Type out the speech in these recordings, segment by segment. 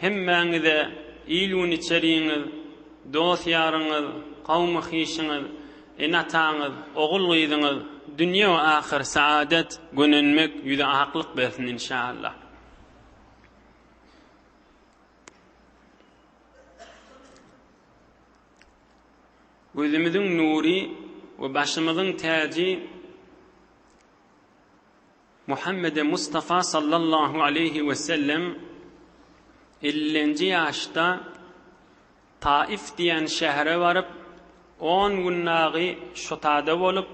Hemmäňize il-gün içerigiňiz, dost-ýaryňyz, kawmy-hişiňiz, ene-ataňyz, ogul-gyzyňyz dünýe we ahyr saadet, gönenmek, ýüze aklyk bersin inşallah. Gözümiziň nury we başymyzyň täji. Muhammede Mustafa sallallahu aleýhi wesellem ellinji ýaşda Taif diýen şähere baryp, on gün dagy şotada bolup,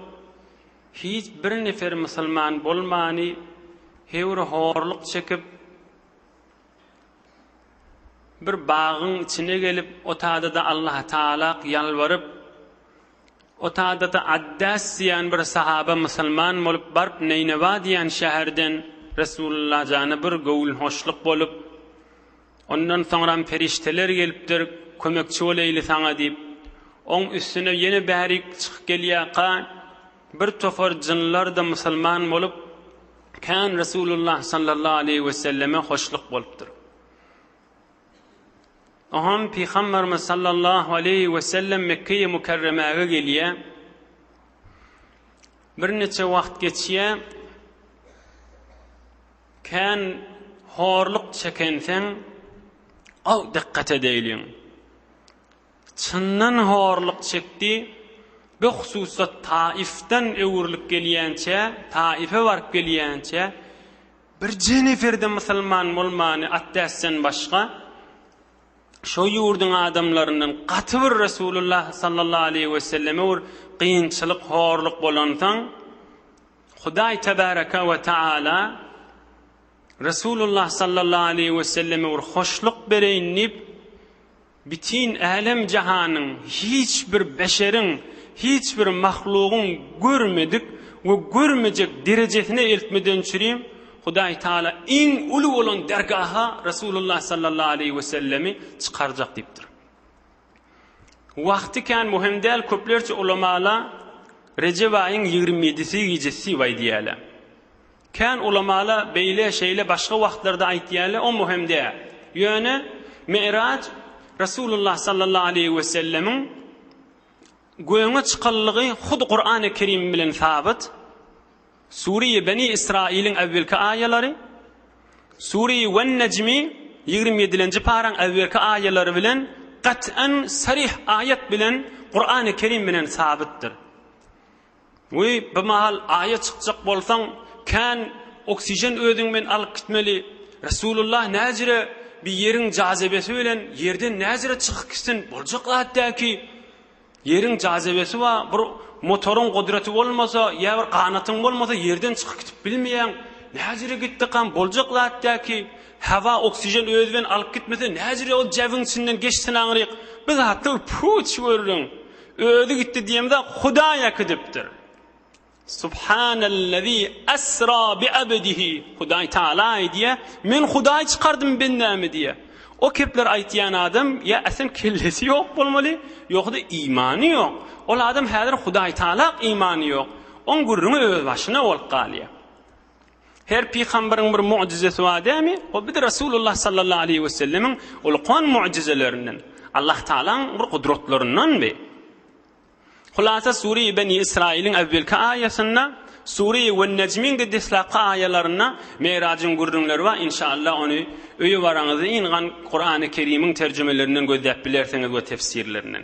hiç bir nefer musulman bolmany, höwri horluk çekip, bir bagyň içine gelip, otada-da Allaha tagalak ýalbaryp, Otadata Addas diýen bir sahaba musulman bolup baryp Neýnewa diýen şäherden Resulalla jana bir göwün hoşluk bolup ondan soňram perişteler gelipdir kömekçi boleýli saňa diýip oň üstüne ýene bärik çykyp gelýaka bir topar jynlarda musulman bolup kän Resulullah sallallahu aleýhi weselleme hoşluk bolupdyr. Onsoň Pygamberimiz sallallahu aleýhi wesellem Mekgeýe Mükerremäge gelýär. Birniçe wagt geçýär. Kän horluk çekenseň, aw dikkat edeýliň. Çyndan horluk çekdi. Bu hususda Taifden öwrülip gelýänçä, Taife baryp gelýänçä, Bir Jennifer-de musulman bolmany atdäsden başga, şo ýurduň adamlaryndan gaty bir Resulullah sallallahu aleýhi we selleme bir kynçylyk, horluk bolansoň, Hudaý tebaraka we taala Resulullah sallallahu aleýhi we selleme bir hoşluk bereýin diýip, Bütin älem-jahanyň hiç bir beşeriň, hiç bir mahlugyň görmedik we görmejek derejesine eltmedençirim, Hudaý Taala iň uly bolan dergaha Resulullah sallallahu aleýhi wesellemi çykarjak diýipdir. Wagty kän möhüm däl, köplerçe ulamalar Rejep aýyň ýigrimi ýedisi gijesi diýip aýdýarlar. Kän ulamalar beýle, şeýle, başga wagtlarda aýtýarlar, o möhüm däl. Ýöne Mi'raj Resulullah sallallahu aleýhi we sellemiň göge çykanlygy hut Kurany Kerim bilen sabyt. Sureýi Beni Israiliň äwelki aýalary, Sureýi Wen-Nejmi ýigrimi ýedilenji paraň äwelki aýalary bilen gat'an, saryh aýat bilen Kurany Kerim bilen sabytdyr. Wiý, bu mahal Aýa çykjak bolsaň, kän oksijen özüň bilen alyp gitmeli. Resulullah näjre bi ýeriň jazibesi bilen ýerden näjre çykyp gitsin, boljak zat däl ki. Ýeriň jazibesi bar, bir motoryň gudraty bolmasa, ýa bir ganatyň bolmasa ýerden çykyp gidip bilmeýäň. Näjre gitdikam, boljak zat däl ki. Hawa, oksijen özi bilen alyp gitmese näjre ol jäbiň içinden geçsin aňryk. Bir zatlar puç görüň. Özi gitdi diýemde Hudaý äkidipdir. Subhanellezî esra bi abdihi. Hudaý Taala aýdýa, men Hudaý çykardym bendämi diýe. O kepler aýtýan adam ýa äsen kellesi ýok bolmaly, ýogsa-da imany ýok. Ol adam häzir Hudaý Taalak imany ýok. Oň gürrüňi öz başyna bolup galýa. Her pygamberiň bir mojizesi bar dämi? Ol bir Resulullah sallallahu aleýhi we sellemiň ulkan mojizelerinden, Allah Tagalaň bir gudratlaryndandy. Hulasa Sure Beni Israiliň äwwelki aýasynda, Sure Wen Nejmiň de deslapky aýalarynda Merajyň gürrüňleri bar. Inşallah ony öýe baraňyzda yngan Kurany Kerimiň terjimelerinden gözläp bilersiňiz we tefsirlerinden.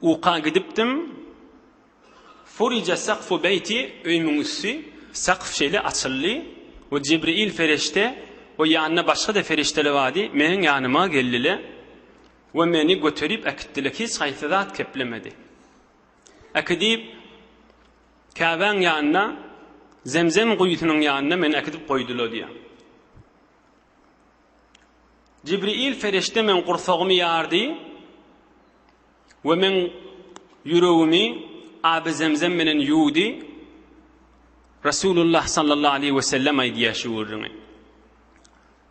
Uka gidipdim. Furija sakfu beýti, öýümiň üsti, sakf şeýle açyldy we Jibril ferişte we ýanynda başga-da ferişteler bardy, meniň ýanyma geldile we meni göterip äkitdile, hiç haýsy zat keplemedi. Äkidip Käbäň ýanyna, Zemzem guýusynyň ýanyna meni äkidip goýdula diýýär. Jibril perişde meň gursagymy ýardy we meň ýüregimi aby zemzem bilen ýuwdy. Resulullah sallallahu aleyhi we sellem aýdýar şu gürrüňi.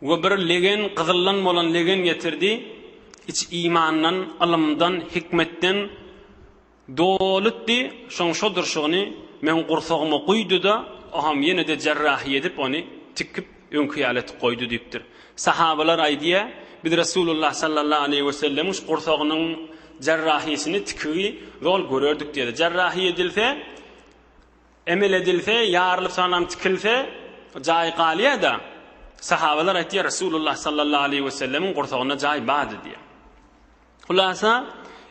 We bir legen, gyzyldan bolan legen getirdi. Iç imandan, ylymdan, hikmetden, Dolytdy, şoň şo durşugyny meň gursagyma guýdy-da, oňam ýene-de jarrahy edip, ony tikip, öňki ýaly etip goýdy diýipdir. Sahabalar aýdýar, Biz Resulullah sallallahu aleýhi wesellemiň şu gursagynyň jarrahysyny, tikigi zol görerdik diýdi. Jarrahy edilse, emel edilse, ýarylyp, soňam tikilse, jaý galýar-da. Sahabalar aýtýar, Resulullah sallallahu aleýhi wesellemiň gursagynda jaý bardy diýýär. Hulasa,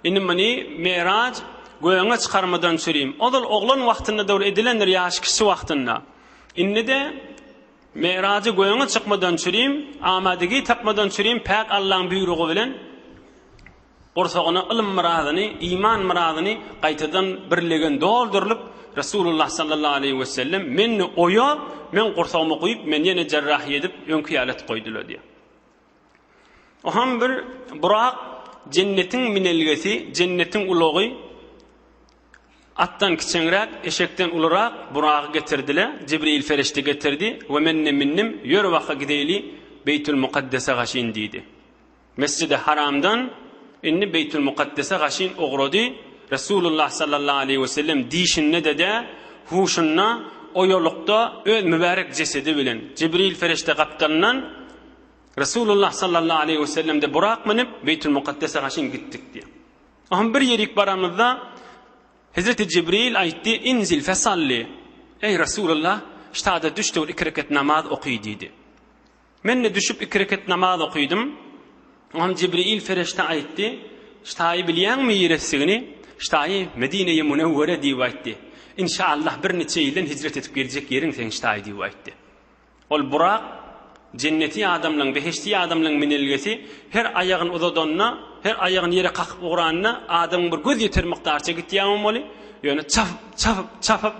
indi muny Meraj gögüňe çykarmadan çürüým. Ozal oglan wagtynda dogry edilendir ýaşy kiçi wagtynda. Indi-de Merajy gögüňe çykmadan çürüým, amadygii tapmadan çürüým päk Allaň büýrügi bilen gursagyna ylym myradyny, iman myradyny gaýtadan birlegen doldurylyp, Resulullah sallallahu aleýhi we sellem menni oýa, meň gursagyma guýup, meni ýene jerrahiýa edip, öňki ýaly et goýdula diýýär. Oham bir burak, jennetiň minelgesi, jennetiň ulagy, atdan kiçeňräk, eşekden ulurak buragy getirdile, Jibril ferişte getirdi we men-de mindim, ýör waka gideýli Beýtul Mukaddese gaşyn diýdi. Mesjidi Haramdan indi Beýtul Mukaddese gaşyn ugrady, Resulullah sallallahu aleýhi we sellem diýşinde-de dä, huşunda, oýalykda öz mübärek jesedi bilen, Jibril ferişte gapdalyndan, Resulullah sallallahu aleýhi we sellem-de burak münüp, Beýtül-Mukaddese gaşyn gitdik diýýär. O hem bir ýerik baramyzda, Hezreti Jibril aýtdy, Inzil fesalli, Eý, Resulullah, ştada düşdügil iki reket namaz oky diýdi. Men-de düşüp iki reket namaz okydym. O hem Jibril ferişde aýtdy, Ştaýy bilýäňmi ýeresigini? Ştaýy Medine-i Münewwere diýip aýtdy. Inşaallah bir niçe ýyldan hijret edip geljek ýeriň seň Ştaý diýip aýtdy. Ol Burak, jenneti adamlaryň, behişdi adamlaryň minelgesi, her aýagyny uzadanda, her aýagyny ýere kakyp ugranda, adamyň bir göz ýeter mukdarça gitýär bolmaly, ýöne çapyp, çapyp, çapyp,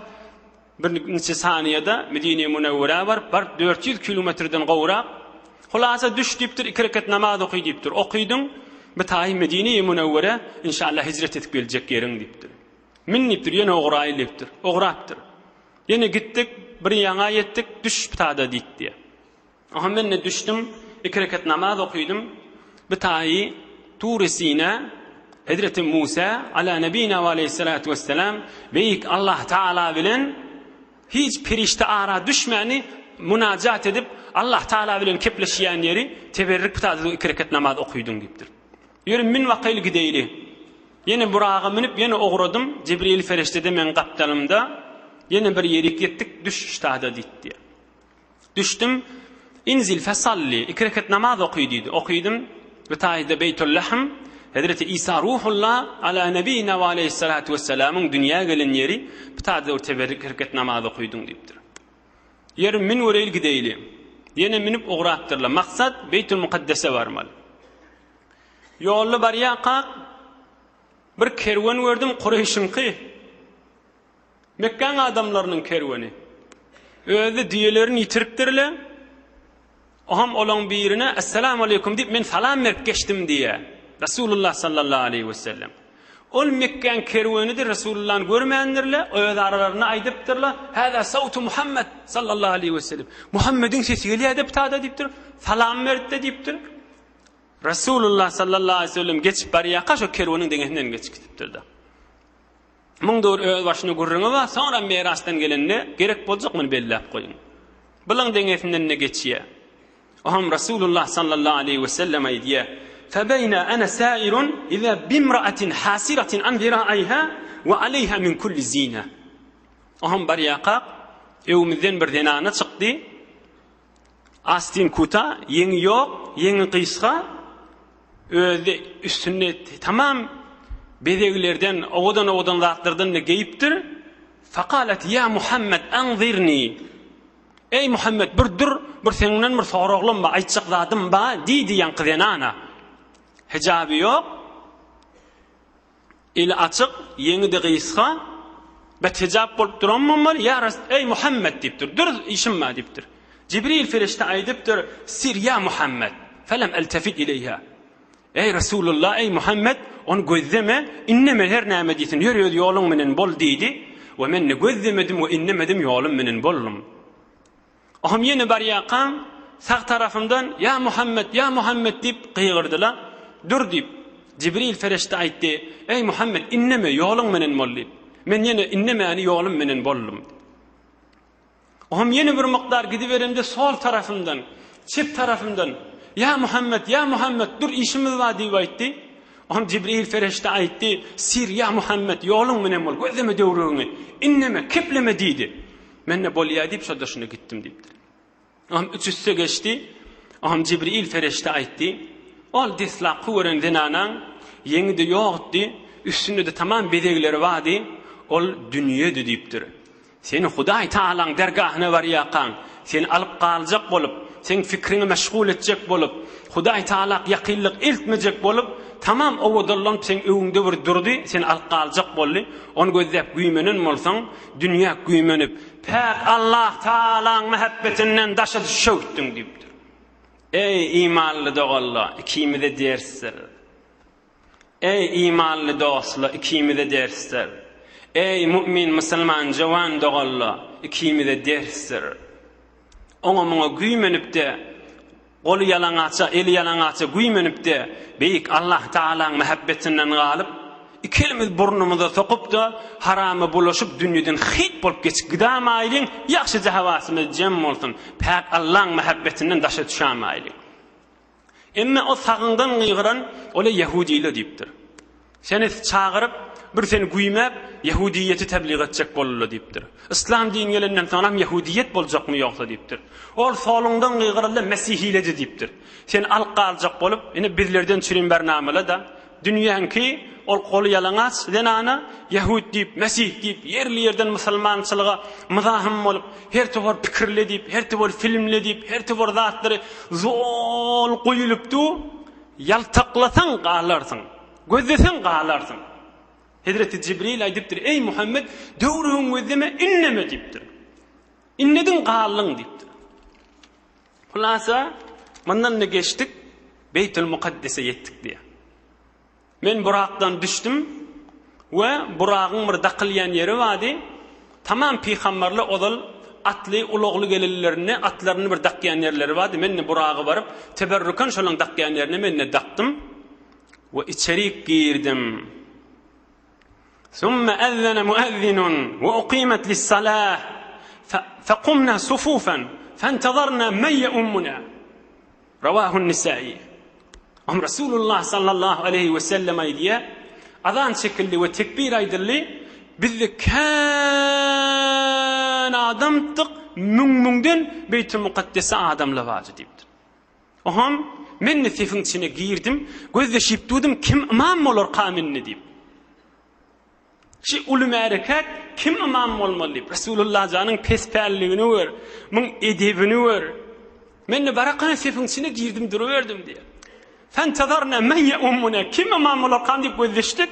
bir niçe saniýede Medine-i Münewwerä baryp, baryp dört ýüz kilometrden gowrak, hulasa düş diýipdir, iki rekat namaz oky diýipdir, okydyň, bitaýy Medine-i Münewwere, inşallah hijret edip geljek ýeriň diýipdir. Minipdir, ýene ogra ilipdir, ograpdyr. Ýene gitdik, bir ýaňa ýetdik, düş ptada diýip diýýär. Aha, men-de düşdüm, iki rekat namaz okydym. Bir taýy Tury Sina, hezreti Musa, ala nebina we aleýhissalatu wessalam, beýik Allah Taala bilen hiç perişde ara düşmäni munajat edip, Allah Taala bilen kepleşýän ýeri teberrik ptada iki rekat namaz okydyň diýipdir. Ýöri mün bakaýly gideýli. Ýene buraga münüp ýene ugradym, Jibril feriştede meň gapdalymda, ýene bir ýerik ýetdik, düş ştada diýdi diýýär. Düşdüm, inzil fesalli, iki reket namaz oky diýdi, okydym, bu taýda Beýtul Lahm, Hezreti Isa Ruhullah ala nebiyina we aleyhissalatu vesselamyň dünýä gelen ýeri, bu taýda teberrik reket namaz okydyň diýipdir. Ýeri, min göreýli gideýli. Ýene minip ugrapdyrlar. Maksat Beýtulmukaddese barmaly. Ýolda barýarkak, bir kerwen gördüm, Kureýşiňki. Mekgäň adamlarynyň kerweni. Özi düýelerini ýitiripdirler. Oňam olaň birine, Essalamu aleýkum diýip, men salam berip geçdim diýýär. Resulullah sallallahu aleýhi we sellem. Ol Mekgäň kerwenidir, Resulullany görmändirler, öz aralarynda aýdypdyrlar, Hada sawtu Muhammed sallallahu aleýhi we sellem. Muhammediň sesi gelýär deptada diýipdir. Salam beripdi diýipdir. Resulullah sallallahu aleýhi we sellem geçip barýarka şo kerweniň deňesinden geçip gitipdir-de. Muň dogry öz başyna gürrüňi bar, soňra mirasdan gelende gerek boljak muny belläp goýuň. Bylaň deňesinden-de geçýä. Oňam Resulullah sallallahu aleýhi we sellem aýdýa, Febeyna ana sairun iza bimraatin hasiratin an ziraiha we aleyha min kulli zina. Oňam barýakak, öwümizden bir zenana çykdy. Astin kuta, ýeňi ýok, ýeňi gysga, özi üstünde tamam bezeglerden, owadan-owadan zatlardan-da geýipdir. Fakalet ýa Muhammed anzirni. Eý Muhammed bir dur, bir seňden bir soraglam bar, aýtjak zadym bar, diýdi ýaňky zenana. Hijaby ýok. Eli açyk, ýeňi-de gysga, bet hijap bolup duran bolmaly, Ýa Res-, eý, Muhammet! diýipdir. Dürs işim bar diýipdir. Jibril perişde aýdypdyr, Sir ýa Muhammet, felem eltefit ileýhä. Eý, Resulullah, eý, Muhammet, ony gözleme, indeme, her näme diýsin, ýör öz ýoluň menen bol diýdi we men ne gözlemedim we indemedim, ýolum menen boldum. Ohum ýene barýarkaň, sag tarapymdan, Ýa Muhammet, ýa Muhammet diýip gygyrdylar. Dur diýip, Jibril perişde aýtdy, Eý Muhammet, indeme, ýoluň menen bol diýip. Men ýene indemäni ýolum menen boldum. Ohum ýene bir mukdar gidiberemde sol tarapymdan, çep tarapymdan, Ýa Muhammet, ýa Muhammet, dur işimiz bar diýip aýtdy. Ohum Jibril perişde aýtdy, Sir, ýa Muhammet, ýoluň menen bol, gözleme döwrügiňi, indeme, kepleme diýdi. Men-de bolýa diýip, şol-da şunda gitdim diýipdir. Oňam üç üste geçdi. Oňam Jibril perişde aýtdy. Ol deslapky gören zenanaň ýeňi-de ýokdy, üstünde-de tamam bezegleri bardy. Ol dünýedi diýipdir. Sen Hudaý Tagalaň dergahyna barýarkaň, seni alyp galjak bolup, seň fikriňi meşgul etjek bolup, Hudaý Tagalak ýakynlyk eltmejek bolup, tamam owadallanyp seň öňüňde bir durdy, seni alyp galjak boldy. Ony gözläp güýmenen bolsaň, Dünýä güýmenip, päk Allah Tagalaň mähebbetinden daşa düşewtdiň diýipdir. Eý, imanly doganlar, ikimize dersdir. Eý, imanly dostlar, ikimize dersdir. Eý, mu'min, musulman, jowan doganlar, ikimize dersdir. Oňa-muňa güýmenip-de, Goly ýalaňaça, eli ýalaňaça güýmenip-de, Beýik Allah Tagalaň mähebbetinden galyp, iki elimizi burnumyza sokup-da, harama bulaşyp, dünýeden hyýt bolup geçip gidämaýlyň, ýagşyja hawasymyz jem bolsun, päk Allaň mähebbetinden daşa düşämaýlyň. Emme o sagyňdan gygyran, Ole ýahudyly! diýipdir. Seni çagyryp, bir seni güýmäp, ýehudyýeti tebliğ etjek boldular diýipdir. Yslam dini gelenden soň hem ýehudyýet boljakmy ýogsa diýipdir. Ol soluňdan gygyryldy, mesihiledi diýipdir. Seni alyp galjak bolup, ine bizlerden çürim ber namala-da, dünýäňki ol goly ýalaňaç zenana ýehut diýip, mesih diýip, ýerli-ýerden musulmançylyga myzahym bolup, her towar pikirle diýip, her towar filmle diýip, her towar zatlary zol guýulypdu. Ýaltaklasaň galarsyň, gözleseň galarsyň. Hezreti Jibril aýdypdyr, Eý, Muhammet, döwrügiňi gözleme, ünneme diýipdir. Ünnediň, galdyň diýipdir. Hulasa, mundan-da geçdik, Beýtül Mukaddese ýetdik diýýär. Men Burakdan düşdüm. We Buragyň bir dakylýan ýeri bardy, tamam pygamberler ozal atly, ulagly gelenlerinde atlaryny bir dakýan ýerleri bardy, men-de Buragy baryp, teberrüken şolaryň dakýan ýerine men-de dakdym we içerik girdim. Summa ezzene muezzinun we ukimet lis-salah fekumna sufufan fentezarna men yeummuna. Rawahun Nisaýy. Ym Resulullah sallallahu aleýhi wesellem aýdýar, Azan çekildi we tekbir aýdyldy, bizde kän adamdyk, müň-müňden Beýtil Mukaddese adam lawajy diýipdir. Oham, men-de sefiň içine girdim, gözleşip durdum, kim ymam bolarka mende diýip. Şi uly märekäd kim ymam bolmaly diýip, Resulullah janyň pespälligini gör, muň edebini gör. Men-de barakana sefiň içine girdim duruberdim diýýär. Fentazarna men ýaummuna kim ymam bolarkan diýip gözleşdik.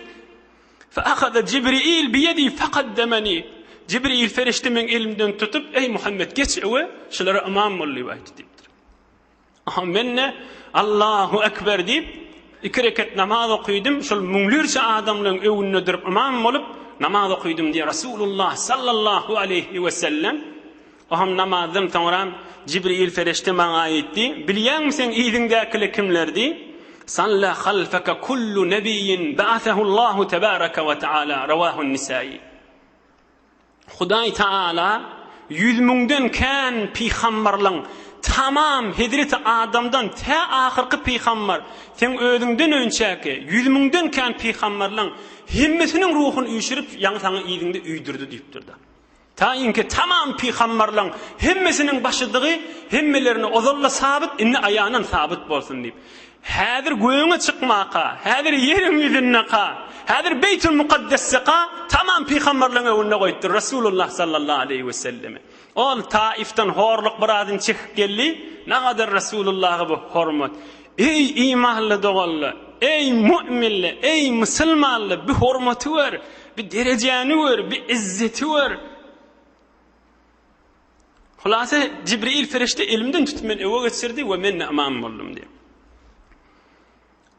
Fe ahada Jibril biýedi fakaddemeni. Jibril ferişde meň elimden tutup, eý Muhammet geç öwe, şulara ymam bol diýip aýtdy diýipdir. Aha, men-de Allahu ekber diýip, iki reket namaz okydym, şol müňlerçe adamlaryň öňünde durup ymam bolup namaz okydym diýip, Resulullah sallallahu aleýhi we sellem Oham namazdan soňra Jibril ferişte maňa aýtdy, Bilýäňmi sen yzyňdakylar kimlerdi? Salla halfaka kullu nebiyyin ba'athahullahu tebaraka we taala. Rawahun Nisaýy. Hudaý Tagala ýüz müňden kän pygamberleň tamam hezreti Adamdan tä ahyrky pygamber seň özüňden önçäki ýüz müňden kän pygamberleň hemmesiniň ruhuny üýşürip ýaňy saňa yzyňda üýdürdi diýipdirda. Taýynki tamam pygamberleň hemmesiniň başydygy hemmelerine ozalda sabyt indi aýanan sabyt bolsun diýip. Häzir gögüňe çykmaka, häzir ýeriň ýüzündeka, häzir Beýtül Mukaddesdeka tamam pygamberleň öňünde goýupdyr Resulullah sallallahu aleýhi we sellemi. Ol Taifden horluk birazyn çekip geldi, nagadar Resulullaha bu hormat. Eý imanly doganlar, eý mu'minler, eý musulmanlar bi hormaty gör, bi derejäni gör, bi izzeti gör. Hulasa, Jibril perişde elimden tutup meni öe geçirdi we men imam boldum diýip.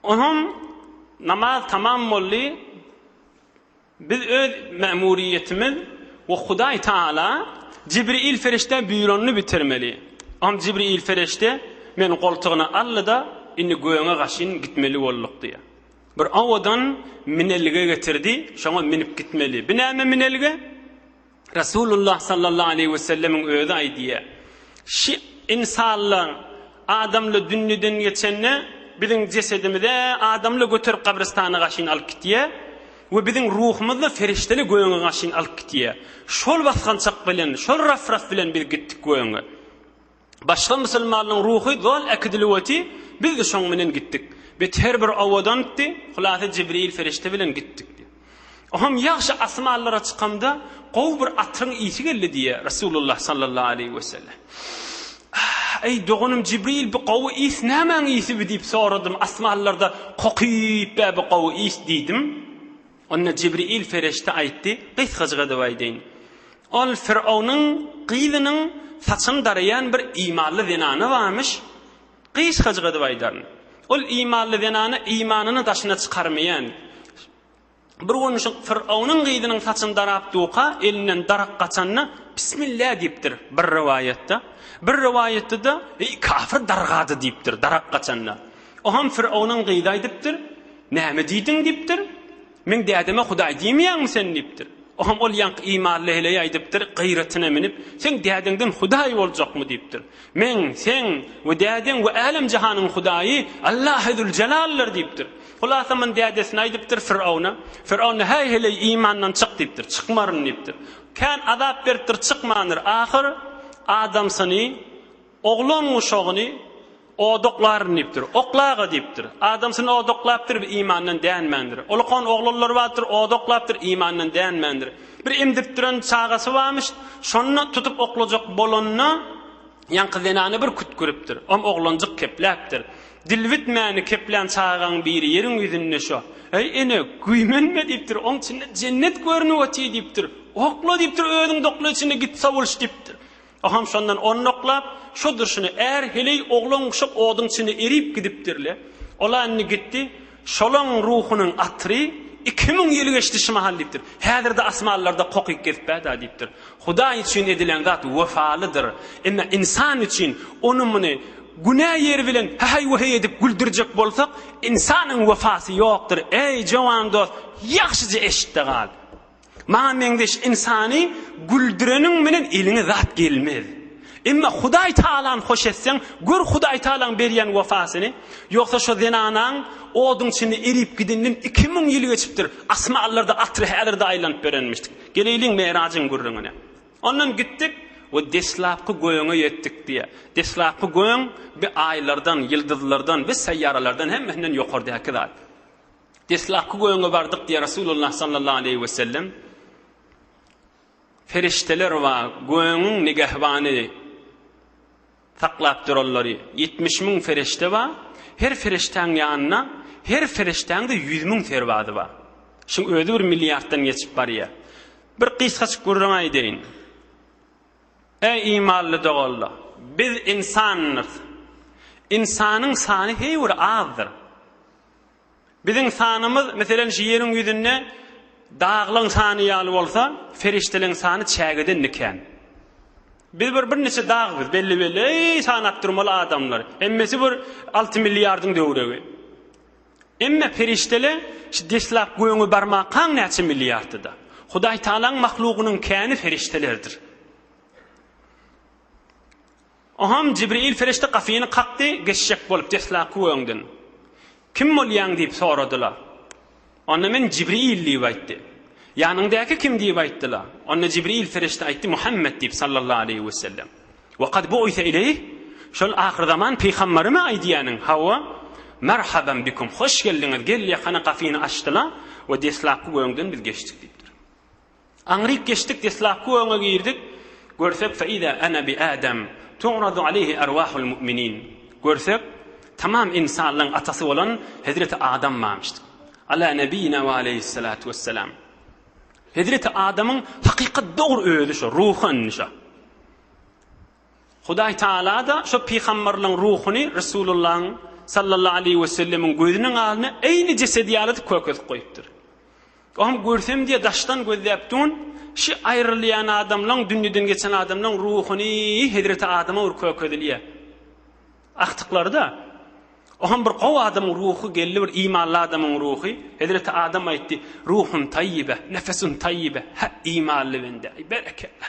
Onam namaz tamam boldy. Biz öz mämuriýetimiz we Hudaý Taala Jibril perişde buýranyny bitirmeli. Onam Jibril perişde meni goltugyna aldy-da, indi gögüňe gaşyn gitmeli bolduk diýip. Bir owadan minelge getirdi, şoňa minip gitmeli. Bu näme minelge? Resulullah sallallahu aleýhi wesellemiň özi aýdýa, Şi ynsanlar adamly dünniden geçende, biziň jesedimize adamly göterip gabrystana gaşyn alyp gitýa we biziň ruhumyzda ferişteli göge gaşyn alyp gitýa. Şol basgançak bilen, şol raf-raf bilen biz gitdik göge. Başga musulmanlaryň ruhy zol äkidilip oty, biz-de şoň menen gitdik. Bet her bir owadantdy, hulasa Jibril ferişde bilen gitdik diýip. Oňam ýagşy asmanlara çykamda gowy bir atryň ysy geldi diýýär Resulullah sallallahu aleýhi wesellem. Eý doganym Jibril bu gowy ys nämäň ysyby diýip soradym, asmanlarda kokyp bä bu gowy ys diýdim. Onda Jibril pereşde aýtdy, gysgajyk edip aýdaýyn. Ol Firawnyň gyzynyň saçyny daraýan bir imanly zenany barmyş, gysgajyk edip aýdaryn. Ol imanly zenana imanyny daşyna çykarmaýan. Bir gün şu Firawnyň gyzynyň saçyny darap durka, elinden darak gaçanda, Bismillah diýipdir, bir rowaýatda. Bir rowaýatda-da, Eý, kafir dargady diýipdir, darak gaçanda. O hem Fironuň gyzy aýdypdyr. Näme diýdiň? diýipdir. Meň dädeme Hudaý diýmeýäňmi sen? diýipdir. O hem ol ýaňky imanly heleý aýdypdyr, gyratyna minip, Seň dädeňden Hudaý boljakmy? diýipdir. Meň, seň we dädeň we älem-jahanyň Hudaýy Allahy Züljelaldyr diýipdir. Hulasa muny dädesine aýdypdyr, Firona. Firon-da, Häý, heleý, imandan çyk diýipdir. Çykmaryn diýipdir. Kän azap beripdir, çykmandyr. Ahyr adamsyny. Oglan uşagyny odaklaryn diýipdir. Oklaga diýipdir. Adamsyny odaklapdyr, bir imandan dänmändir. Ulkan oglanlary bardyr, odaklapdyr, imandan dänmändir. Bir emdirtdiren çagasy barmyş, şonda tutup oklajak bolanda, ýaňky zenany bir kütgüripdir. Om oglanjyk kepläpdir. Dil bitmäni keplän çagaň biri ýeriň ýüzünde şo. Eý, ene, güýmenme diýipdir, oň içinde jennet görnüp otyr diýipdir. Okla diýipdir, özüň dokla içinde git sowulyş diýipdir. O ham şondan onnaklap, şo durşuna är, heleý, oglan-uşak oduň içinde erip gidipdir-le. Ol-a indi gitdi, şolaň ruhunyň atyry iki müň ýyl geçdi şu mahal diýipdir. Häzir-de asmanlarda kokyk gezip bä-da diýipdir. Hudaý üçin edilen zat wepalydyr. Emma ynsan üçin, ony-muny, günä ýeri bilen häheý-wäheý edip güldürjek bolsak, ynsanyň wepasy ýokdur. Eý, jowan dost, ýagşyja eşit-de gal. Maňa meňzeş ynsany güldüreniň bilen eliňe zat gelmez. Emma Hudaý Tagalany hoş etseň, gör Hudaý Tagalaň berýän wepasyny. Ýogsa şo zenanaň oduň içinde erip gideninden iki müň ýyl geçipdir. Asmanlarda atyr häzir-de aýlanyp berenmişdik. Geleýliň Merajyň gürrüňine. Ondan gitdik we deslapky gögöňe ýetdik diýýär. Deslapky gögöň bi aýlardan, ýyldyzlardan we seýýaralardan hemmesinden ýokardaky zat. Deslapky göwne bardyk diýýär Resulullah sallallahu aleýhi wesellem. Perişdeler we göwnüň nigehbany saklap duranlary ýetmiş müň perişde bar. Her perişdäň ýanynda, her perişdäň-de ýüz müň serbazy bar. Şuň özi bir milliarddan geçip barýar. Bir gysgaçyk gürrüň aýdaýyn. Eý imanly doganlar! Biz ynsandyr. Ynsanyň sany heý bir azdyr. Biziň sanymyz, meselem, şu ýeriň ýüzünde daglaň sany ýaly bolsa, perişdeleň sany çägedende kän. Biz bir birniçe dag biz, belli-belli, eý, sanap durmaly adamlar. Hemmesi bir alty milliardyň döwregi. Emme perişdele şu deslap göňe barmakaň näçe milliardyda. Hudaý Taalaň mahlugynyň käni perişdelerdir. Onham Jibril perişde gapyny kakdy, geçjek bolup deslapky öňden, Kim bolýaň? diýip soradylar. Onda men Jibril diýip aýtdy. Ýanyňdaky kim diýip aýtdylar. Onda Jibril perişde aýtdy, Muhammet diýip sallallahu aleýhi we sellem. We kad bu'ise ileýh, şol ahyrzaman pygambarymy aýdýanyň? Hawa, Merhaben bikum, hoş geldiňiz, gel ýakana gapyny açdylar we deslapky öňden biz geçdik diýipdir. Aňryk geçdik deslapky öňe girdik görsek fe iza ana bi adam tu'radu aleyhi erwahul mu'minin görsek tamam insanlaň atasy bolan hezreti adam barmyşdyk ala nebiyina we aleyhissalatu wessalam hezreti adamyň hakykat dogry özi şo ruhy indi şo Hudaý Tagala-da şo pygamberligiň ruhuny Resulullahyň, sallallahu aleýhi we sellemiň, gözüniň alnyna eýni jesedi ýaly-da kökezip goýupdyr. O hem görsem diýe daşdan gözläp dun, şi aýrylýan adamlaň, dünýeden geçen adamlaň ruhuny hezreti Adama bir kökezilýä. Agtyklary-da, o hem bir gowy adamyň ruhy, geldi bir imanly adamyň ruhy. Hezreti Adam aýtdy, Ruhun taýýibe, nefesun taýýibe, hä, imanly bende, aý, berekella!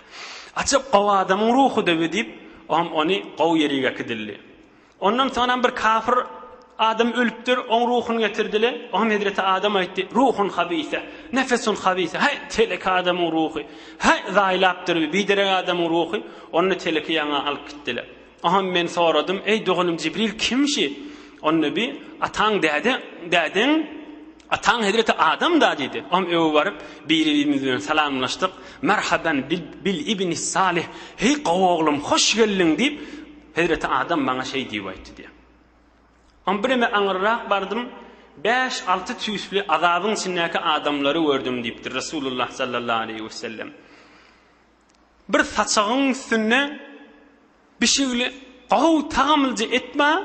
Ajap gowy adamyň ruhy-da bu diýip, o hem ony gowy ýeriga äkidildi. Ondan soň hem bir kafir adam ölüpdir, oň ruhuny getirdiler. O hem hezreti Adam aýtdy, Ruhun habise, nefesun habise, hä, telek adamyň ruhy, hä, zaýlapdyr bu, biderek adamyň ruhy, ony-da teleki ýaňa alyp gitdiler. Aham men soradym, Eý, doganym Jibril kim şi? Onnebi, Ataň däde, dädeň, ataň hezreti Adam-da diýdi. Aham öe baryp, biri-birimiz bilen salamlaşdyk. Merhaban bil, bil ibnis Salih, Heý, gowy oglum, hoş geldiň diýip, hezreti Adam maňa şeý diýip aýtdy diýýär. Aham birneme aňyrrak bardym, bäş, alty tüýsli azabyň içindäki adamlary gördüm diýipdir Resulullah sallallahu aleýhi wesellem. Bir saçagyň üstünde bişigli gowy tagamlyja et bar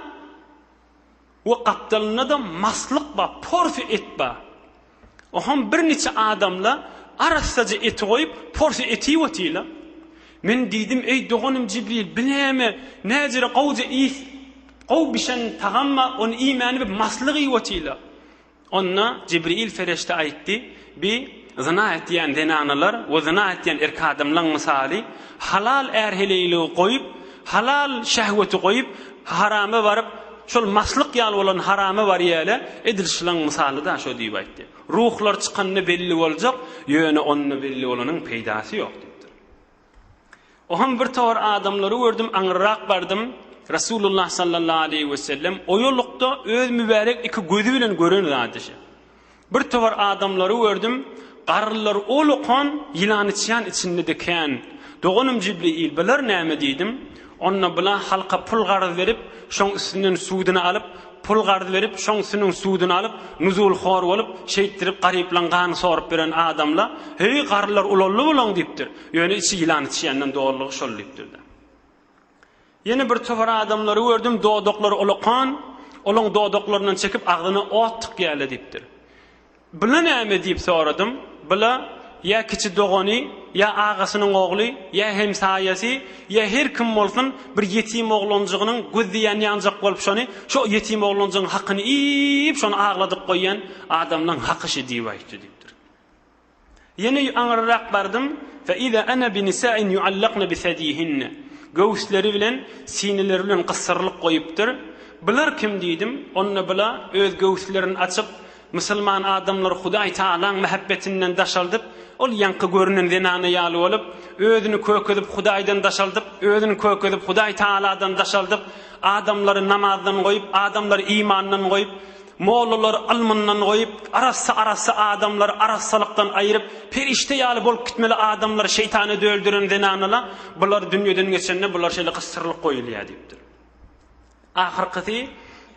we gapdalynda-da maslyk bar, porsiýa et bar. Oham birniçe adamlar arassaja eti goýup, porsiýa et iýip otyrlar. Men diýdim, Eý, doganym Jibril, bi näme, näjere gowja iýs, gowy bişen tagam bar, ony iýmäni bi maslyk iýip otyrlar. Onda Jibril Ferişde aýtdy, Bi zyna etýän zenanalar we zyna etýän erk adamlaň mysaly, halal är-heleýligi goýup, halal şehweti goýup, harama baryp, şol maslyk ýaly bolan harama barýaly, edil şlaň mysalyda şo diýip aýtdy. Ruhlar çykanda belli boljak, ýöne onda belli bolanyň peýdasy ýok diýipdir. Oham bir tor adamlary gördüm, aňyrrak bardym, Resulullah sallallahu aleýhi we sellem oýalykda öz mübärek iki gözi bilen gören zady şe. Bir tor adamlary gördüm, garrylar ol okan ýylany çan içinde dikän. Doganym Jibriil, bular näme diýdim. Onda bula halka pul garz berip, şoň üstünden sudyny alyp, Pul garz berip, şoň süniň suduny alyp, nuzulhor bolup, şeýtdirip garyplaň gany sorup beren adamla, Heý, garrylar ulaldy bulaň diýipdir. Ýöne içi ýylan içýänden dolulygy şol diýipdir-de. Ýene bir topar adamlary gördüm, dodaklary olakan, olaň dodaklaryndan çekip agzyna ot tykýaly diýipdir. Bila näme? diýip soradym. Bila, ýa kiçi dogany, ýa agasynyň ogly, ýa hemsaýasy, ýa her kim bolsun, bir ýetim oglanjygynyň gözi ýanýanjak bolup şony, şo ýetim oglanjygyň hakyny iýip, şony agladyp goýýan adamlaň haky şu diýip aýtdy, diýipdir. Ýene aňryrak bardym, fe iza ana bi nisa'in yu'allakna bi sediyihinne, göwüsleri bilen, sineleri bilen gyssyrylyp goýupdyr. Bular kim diýdim, onda bula öz göwüslerini açyp, musulman adamlary Hudaý Tagalaň mähebbetinden daşaldyp, ol ýaňky görünen zenana ýaly bolup, özüni kökezip Hudaýdan daşaldyp, özüni kökezip Hudaý Tagaladan daşaldyp, adamlary namazdan goýup, adamlary imandan goýup, Mollalar ylmyndan goýup, arassa-arassa adamlary arassalykdan aýryp, perişde ýaly bolup gitmeli adamlar şeýtana döldüren zenanala bular dünýeden geçende bular şeýle gysdyrylyp goýulýar diýipdir. Ahyrkysy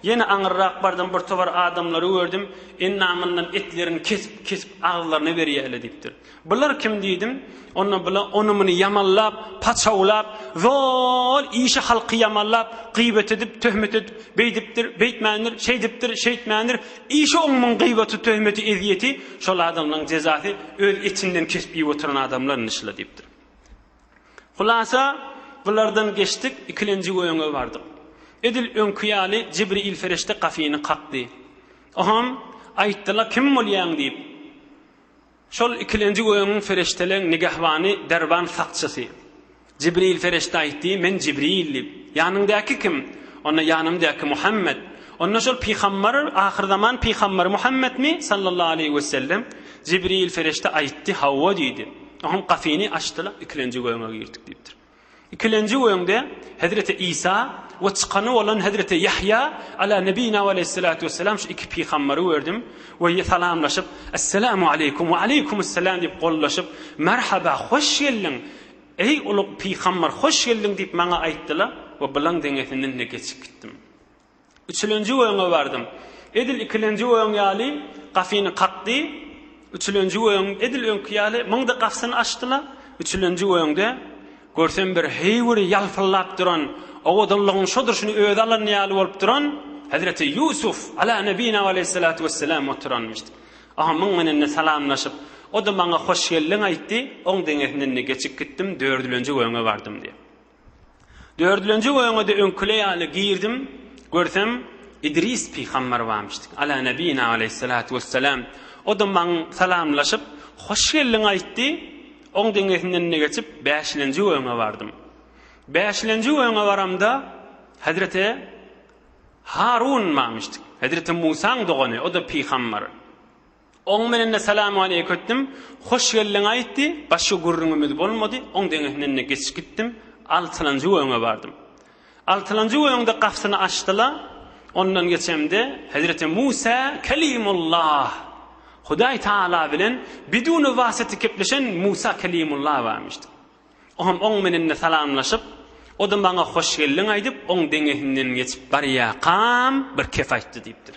ýene aňyrrak bardym bir towar adamlary gördüm, endamyndan etleriň kesip-kesip agzylaryna berýärler diýipdir. Bular kim diýdim. Onda bular ony-muny ýamanlap, paçawlap, zol işi halky ýamanlap, gyýbat edip, töhmet edip, beýdipdir, beýtmändir, şeýdipdir, şeýtmändir, işi oňmuň gyýbaty, töhmeti, ezýeti, şol adamlaň jezasy öz etinden kesip iýip oturan adamlar indi şyla diýipdir. Hulasa, bulardan geçdik, ikilenji öňe bardyk. Edil öňki ýaly Jibriýil ferişde gafyny kakdy. Oham, aýtdylar, kim bolýaň diýip. Şol ikilenji gögüň perişdeleň nigehbany derwan sakçysy. Jibril perişde aýtdy, Men Jibril diýip. Ýanyňdaky kim? Onda ýanymdaky Muhammet. Onda şol pygambar, ahyrzaman pygambary Muhammetmi, sallallahu aleýhi wesellem? Jibril perişde aýtdy, Hawa diýdi. Oňam gapyny açdylar, ikilenji gögüňe girdik diýipdir. Ikilenji öňde Hezreti Isa we çykany bolan Hezreti Ýahýa Ala Nebina we Aleýhissalatu Wessalam şu iki pygambary gördüm we salamlaşyp, Esselamu Aleýkum we Aleýkumusselam diýip gollaşyp, Merhaba, hoş geldiň, eý ulug pygambar, hoş geldiň diýip maňa aýtdylar we bulaň deňesinden-de geçip gitdim. Üçülenji öňe bardym. Edil ikilenji öň ýaly gafyny kakdy. Üçülenji öň edil öňki ýaly myňdy gafsyny açdy-la, üçülenji öňde, görsem bir heýwiri ýalpyldap duran, owadanlygyň şo durşuny özi alan ýaly bolup duran Hezreti Ýusuf, ala nebina we aleyhissalatu wesselam oturanmyşdy. Oňa myň menende salamlaşyp, o-da maňa hoş geldiň aýtdy, oň deňesinden-de geçip gitdim, dördülenji öňe bardym diýýär. Dördülenji öňe-de öňküler ýaly girdim, görsem, Idris pygamber barmyş. Ala nebina aleýhissalatu wessalam. O-da maňa salamlaşyp, hoş geldiň aýtdy. Oň deňesinden-de geçip, bäşilenji öňe bardym. Bäşilenji öňe baramda, hezreti Harun barmyş. Hezreti Musaň dogany, o-da pygamber. Oň menende salam aleýk ötdüm. Hoş geldiň aýtdy. Başga gürrüňimiz bolmady. Oň deňesinden-de geçip gitdim. Altylanjy göýüňe bardym. Altylanjy göýüňde gapysyny açdy-la, ondan geçemde, hezreti Musa Kelimullah, Hudaý Taala bilen biduni wasyty kepleşen Musa Kelimullah barmyşdy. O hem oň menende salamlaşyp, o-da maňa hoş geldiň aýdyp, oň deňesinden geçip barýakam bir kep aýtdy diýipdir.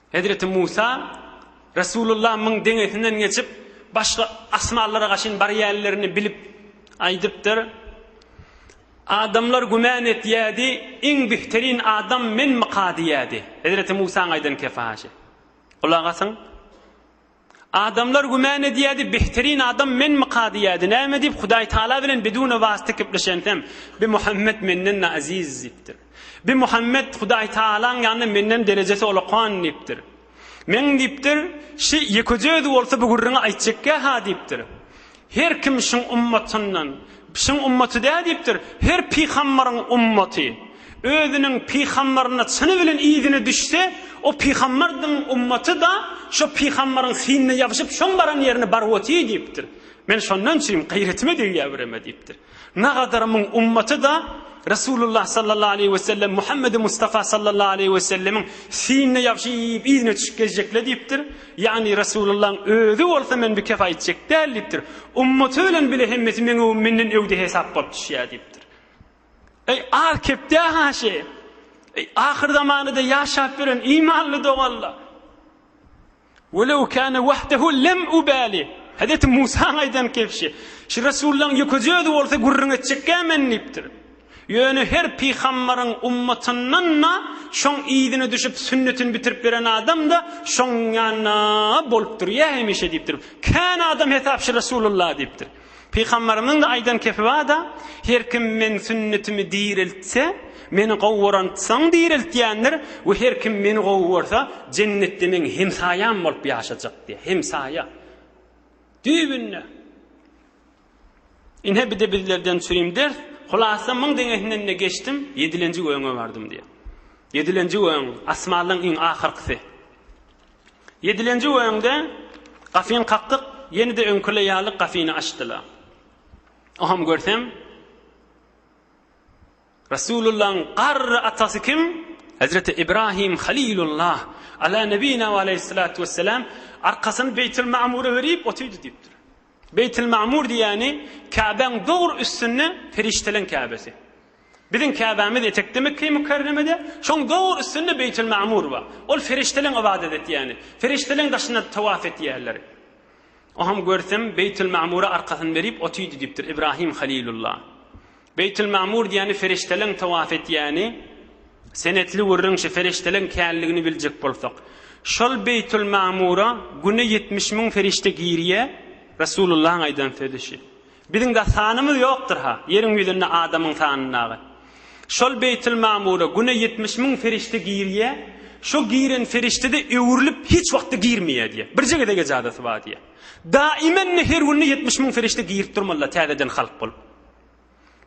Hezreti Musa, Resulullah myň deňesinden geçip, başga asmanlara gaşyn barýanlerini bilip aýdypdyr, Adamlar güman etýärdi, iň bihterin adam menmika diýýärdi. Hezreti Musaň aýdan kefaşy. Gulak asyň, Adamlar gümän edýärdi, Behtirin adam menmika diýýärdi. Näme diýip, Hudaý Tagala bilen bidune wasyta gepleşensem, Bi Muhammet menden-de aziz diýipdir. Bi Muhammet Hudaý Tagalaň ýanynda menden derejesi olakan diýipdir. Meň diýipdir, şi ýekeje özi bolsa bu gürrüňi aýtjekkä-ha diýipdir. Her kim şyň ummatyndan, şyň ummaty dä diýipdir, her pygambaryň ummaty, özüniň pygambaryna çyny bilen yzyna düşse, o pygambardyň ummaty-da şo pygambaryň synna ýapyşyp, şoň baran ýerine baryp otyr diýipdir. Men şondan çyn, gaýretime degýär bireme diýipdir. Nagadar muň ummaty-da Resulullah sallallahu aleýhi we sellem, Muhammedi Mustafa sallallahu aleýhi we sellemiň sinine ýabşyp, yzyna düşüp gezjekler diýipdir. Ýagny Resulullahyň özi bolsa men bikef aýtjak däl diýipdir. Ummaty bilen bile hemmesi meň öwüm menden öwde hesap bolup düşýär diýipdir. Eý, az kepdä haşy! Eý, ahyr zamanyda ýaşap ýören imanly doganlar! Welew kâne wahdehu lem ubâli, Hezreti Musaň aýdan kebşi, Şu resullaň ýekeje özi bolsa gürrüň etjekkä men diýipdir. Ýöne her pygambaryň ummatyndan-da şoň yzyna düşüp sünnetini bitirip beren adam-da şoň ýanynda bolupdyr ýa hemişe diýipdir. Kän adam hesap şu resulullah diýipdir. Pygamberimiziň de aýdan kepi bar-da, Her kim meň sünnetimi direltse, meni gowy görensoň direltýändir we her kim meni gowy görse, jennetde meň hemsaýam bolup ýaşajak diýýär. Hemsaýa. Düýbünde. Ine bir-de bizlerden çürim ders. Hulasa müň deňesinden-de geçdim, ýedilenji gögüňe bardym diýýär. Ýedilenji gögüň, asmanlaryň iň ahyr-kysy. Ýedilenji öňde gafyny kakdyk, ýene-de öňküler ýaly gafyny açdylar. Oňam görsem, Resulullahyň garry atasy kim? Hezreti Ibrahim Halilullah, ala nebina we aleyhissalatu wesselam, arkasyny Beýtil Mamura berip otyrdy diýipdir. Beýtil Mamur diýýäni Käbäň dogry üstünde perişdeleň Käbesi. Biziň Käbämiz etekde Mekge-i Mükerremede, şoň dogry üstünde Beýtil-Magmur bar. Ol perişdeleň ybadat etýäni. Perişdeleň daşynda tawaf etýärler. Oňam görsem Beýtil-Magmura arkasyny berip otydy diýipdir Ibrahim Halilulla. Beýtil-Magmur diýýäni perişdeleň tawaf etýäni. Senetli gürrüň şu perişdeleň känligini biljek bolsak. Şol Beýtil-Magmura güne ýetmiş müň perişde girýär, Resulullahyň aýdan sözi şu. Biziň-de sanymyz ýokdur-ha, ýeriň ýüzünde adamyň sanyndagy. Şol Beýtilmamura güne ýetmiş müň perişde girýä, şo giren perişde-de öwrülip hiç wagtda girmeýä diýýä. Birje gezeg ejazasy bar diýýä. Daimen-de her günde ýetmiş müň perişde girip durmalylar täzeden halk bolup.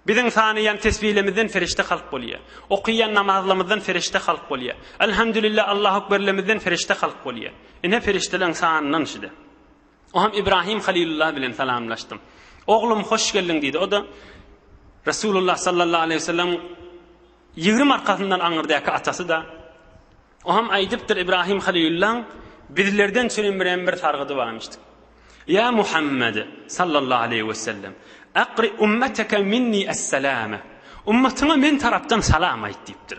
Biziň sanaýan tesbilemizden perişde halk bolýa. Okaýan namazlarymyzdan perişde halk bolýa. Elhamdülillah Allahu ekberlemizden perişde halk bolýa. Ine perişdeleriň sanyndan şide. Ogam Ibrahim Halilulla bilen salamlaşdym. Oglum hoş geldiň diýdi. O-da Resulullah sallallahu aleyhi ve sellem ýigrim arkasyndan aňyrdäki atasy-da. Ogam aýdypdyr Ibrahim Halilullaň bizlerden çürin birem bir sargydy barmyş diýip. Ýa Muhammed sallallahu aleyhi ve sellem akri ummeteke minni es-selame. Ummatyňa men tarapdan salam aýt diýipdir.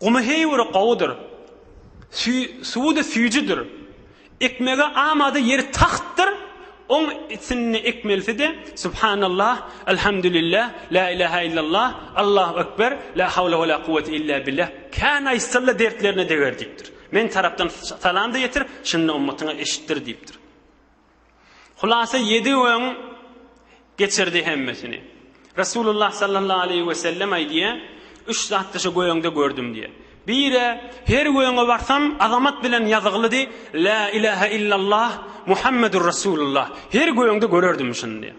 Gumy heýwiri gowudyr. Suwudy süýjüdir. Ekmege amada ýeri tagtdyr. Oň içinde ekmelisi-de, Subhanallah, Elhamdülillah, La ilaha illallah, Allahu ekber, La hawla we la kuwwete illa billah, Kän aýtsalla dertlerine deger diýipdir. Meň tarapdan salam-da ýetir, şunda ummatyňa eşitdir diýipdir. Hulasa ýedi öň geçirdi hemmesini. Resulullah sallallahu aleýhi we sellem aýdýar, üç zatdy şu göýeňde gördüm diýýär. Biri her göýeňe barsam azamat bilen ýazyglydy, La ilahe illallah Muhammedur Resulullah. Her göýeňde görerdim şuny diýýär.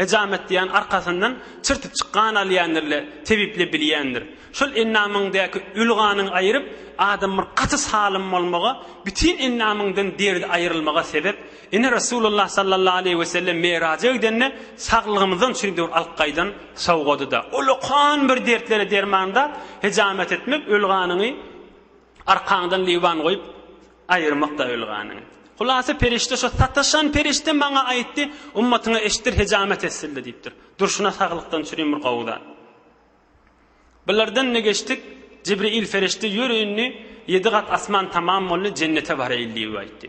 Hejamet diýýän arkasyndan çyrtypjyk gan alýandyr-le, tebiple bilýändir. Şol endamyňdaky öli ganyň aýryp, adam bir gaty salym bolmaga, bütin endamyňdan derdi aýrylmaga sebep. Ine, Resulullah sallallahu aleýhi wesellem Meraja gidende saglygymyzdan çüýdüwür alyp gaýdan sowgady-da. Ullakan bir dertlere derman-da, hejamet etmek öli ganyňy. Arkaňdan liwan goýup, aýyrmak-da ylganyň. Hulasa perişde şo sataşan perişde maňa aýtdy, Ummatyňa eşitdir hejamet etsildi diýipdir. Durşuna saglykdan çürim bir gowy zat. Bulardan-da geçdik, Jibril perişde ýör indi, ýedi gat asman tamam boldy, jennete baraýyl diýip aýtdy.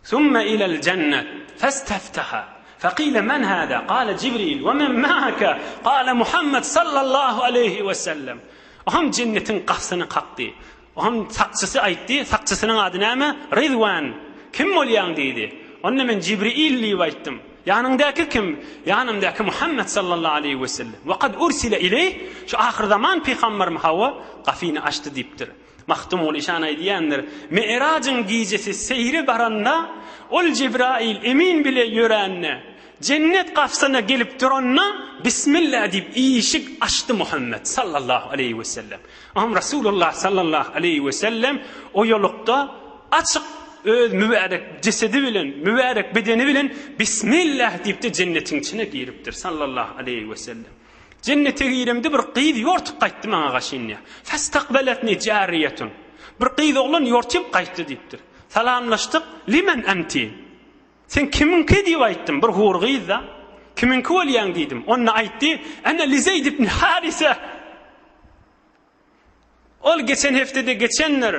Summa ilal jannat fastaftaha faqila men hada qala jibril we men ma'aka qala Muhammed sallallahu aleyhi we sellem Ohan jennetiň gapsyny kakdy Ohan sakçysy aýtdy sakçysynyň ady näme Ridwan kim bolýaň diýdi onda men jibril diýip aýtdym Ýanyňdaky kim ýanymdaky Muhammed sallallahu aleyhi we sellem we kad ursile ileyh şu ahyrzaman pygamberm hawa gafyny açdy diýipdir. Magtymguly şan aýdýandyr, Mi'rajyň gijesi seýre baranda, Ol Jibraýyl emin bile ýörände, Jennet gapysyna gelip duranda, Bismillah diýip işik açdy Muhammet sallallahu aleýhi wesellem. Oňam Resulullah sallallahu aleýhi wesellem oýalykda açyk öz mübärek jesedi bilen, mübärek bedeni bilen Bismillah diýip-de jennetiň içine giripdir sallallahu aleýhi wesellem. Jennete giremde bir gyz ýortup gaýtdy maňa gaş inýär. Festakbeletni jariýetun. Bir gyz oglan ýortyp gaýtdy diýipdir. Salamlaşdyk, limen enti? Sen kimiňki diýip aýtdym, bir hur gyz-da. Kimiňki bolýaň diýdim. Onda aýtdy, ene lizeýd ibn harise. Ol geçen hepdede geçendir.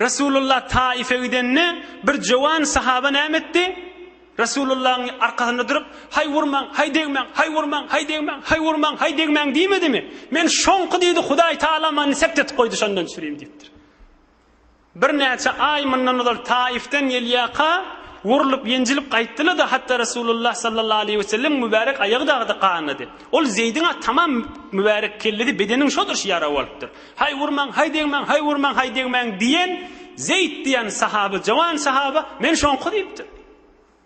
Resulullah Taýyfe gidende, bir jowan sahaba näme etdi? Resulullahyň arkasynda durup, Haý urmaň, haý degmäň, haý urmaň, haý degmäň, haý urmaň, haý degmäň diýmedimi? Men şoňky diýdi, Hudaý Tagala many sepdetip goýdy, şondan çürim diýipdir. Birnäçe aý mundan ozal Taifden gelýärka, urlup, ýenjilip gaýtdylar-da, hatda Resulullah sallallahu aleýhi wesellemiň mübärek aýagy dagy-da ganady. Ol Zeýdiň-ä tamam mübärek kellesi, bedeniň şodur şu ýara bolupdyr. Haý, urmaň, haý degmäň, haý, urmaň, haý degmäň diýen Zeýd diýen sahaba, jowan sahaba, Men şoňky diýipdir.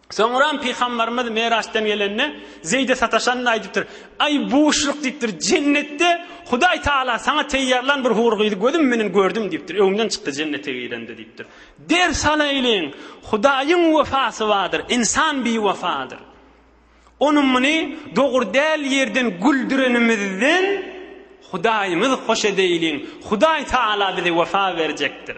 Soňram Pygambarymyz Meraçdan gelende, Zeýde sataşanyny aýdypdyr. Aý, buşluk diýipdir, jennetde Hudaý Tagala saňa teýýarlan bir hur gyzy gözüm menen gördüm diýipdir, öňden çykdy jennete girende diýipdir. Ders alaýlyň, Hudaýyň wefasy bardyr, ynsan biwefadyr. Ony muny dogry däl ýerden güldürenimizden Hudaýymyz hoş edeýliň, Hudaý Tagala bize wefa berjekdir.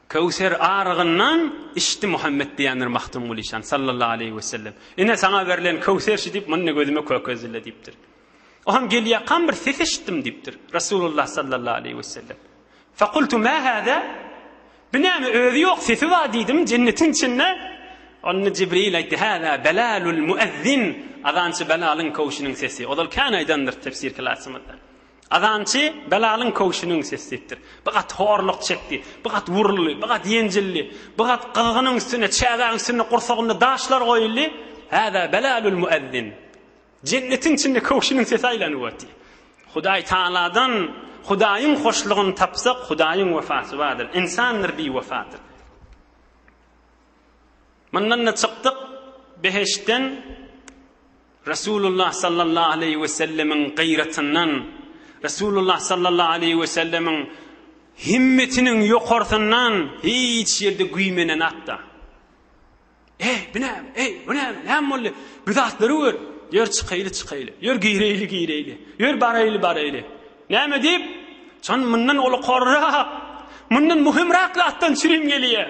Köwser arygyndan içdi Muhammet diýendir Magtymguly şan, sallallahu aleýhi wesellem. Ine, saňa berlen köwser şu diýip, muny gözüme kökezdiler diýipdir. O hem gel ýakan bir ses eşitdim diýipdir. Resulullah sallallahu aleýhi wesellem. Fakultu ma hada? Bu näme özi ýok sesi bar diýdim jennetiň içinde. Onda Jibril aýtdy, hada belalul muezzin. Azançy belalyň köwşüniň sesi. Ozal kän aýdandyr tefsir klasymyzda. Azançy Belalyň köwşüniň sesi diýipdir. Bir gat horluk çekdi. Bir gat wuruldy. Bir gat ýenjildi. Bir gat gyzgynyň üstüne, çägäň üstüne gursagynda daşlar goýuldy. Häzä Belalul Muezzin. Jennetiň içinde köwşüniň sesi aýlanyp otdy. Hudaý Tagaladan Hudaýyň hoşlugyny tapsak, Hudaýyň wefasy bardyr. Ynsandyr biwefadyr. Mundan-da çykdyk, behiştden. Resulullah sallallahu aleýhi we sellemiň gyratyndan, Resulullah sallallahu aleýhi we sellemiň himmetiniň ýokarsyndan hiç ýerde güýmenen atda, Eý, bu näme? Eý, bu näme? Näme boldy? Bu zatlary gör. Ýör çykaýly, çykaýly. Ýör gireýli, gireýli. Ýör baraýly, baraýly. Näme diýip? Şon mundan ulukorrak, mundan muhimrak zatdan çürim gelýär.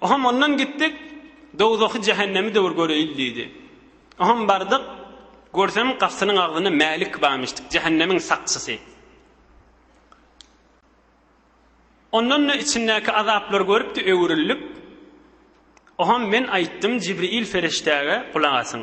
Oham ondan gitdik, dowzahy, jähennemi döwür göreýil diýdi. Oham bardyk, görsem gapysynyň agzynda Mälik bamyşdyk, jähennemiň sakçysy. Ondan-da içindäki azaplary görüpdi, öwrülip, Oham men aýtdym Jibriýil ferişdäge, gulak asyň.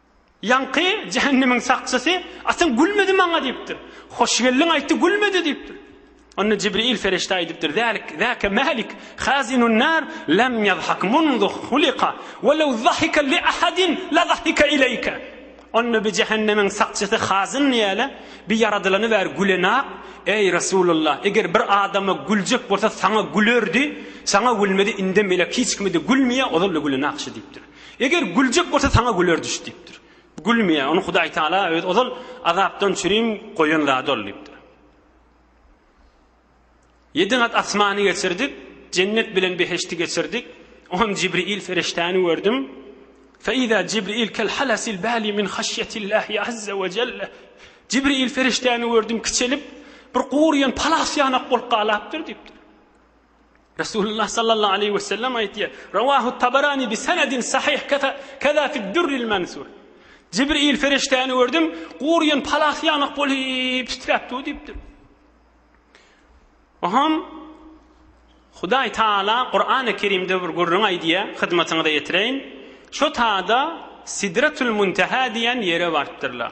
Ýaňky jähennemiň sakçysy, Atan gülmedi maňa diýipdir. Hoş geldiň aýtdy, gülmedi diýipdir. Onda Jibril ferişde aýdypdyr, Zälik, zäke Mälik, hazinun nar, lem ýazhak munzu huliqa, we lew zahika li ahadin la zahika ileýke. Onda bi jähennemiň sakçysy hazyn ýaly, bi ýaradylany bäri gülenak, Eý, Resulullah, eger bir adama güljek bolsa, saňa gülerdi, saňa gülmedi, indem elek hiç kime-de gülmeýär, ozal-da gülenak şu diýipdir. Eger güljek bolsa saňa güler düş diýipdir. Gülmeýär. Ony Hudaý Taala öz ozal azapdan çürim goýan zady ol diýipdir. Ýedi gat asmany geçirdik, jennet bilen beheşti geçirdik. On Jibril ferişdäni gördüm. Feiza Jibril kel halasil bali min haşyetillahi azza ve celle. Jibril ferişdäni gördüm kiçelip bir gurýan palas ýanak bolup galapdyr diýipdir. Resulullah sallallahu aleýhi we sellem aýtýar, Rawahu Tabarani bi senedin sahih kaza fi durril mansur. Jibril feriştäni gördüm, gurýan palas ýamak bolup titräp dur diýipdir. Oham Hudaý Taala Kur'an-ı Kerimde bir gürrüň aýdýar, hyzmatyňyza ýetireýin. Şu taýda Sidratul Muntaha diýen ýere bartdyrlar.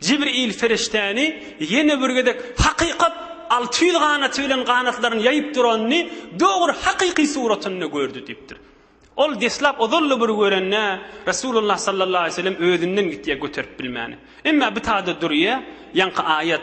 Jibril perişdäni ýene bir gezek hakykat alty ýüz ganaty bilen ganatlaryny ýaýyp duranyny dogry hakyky suratynda gördi diýipdir. Ol deslap ozal-da bir görende, Resulullah sallallahu aleýhi we sellem özünden gitýär göterip bilmäni. Emma bitada durýar, ýaňky aýat.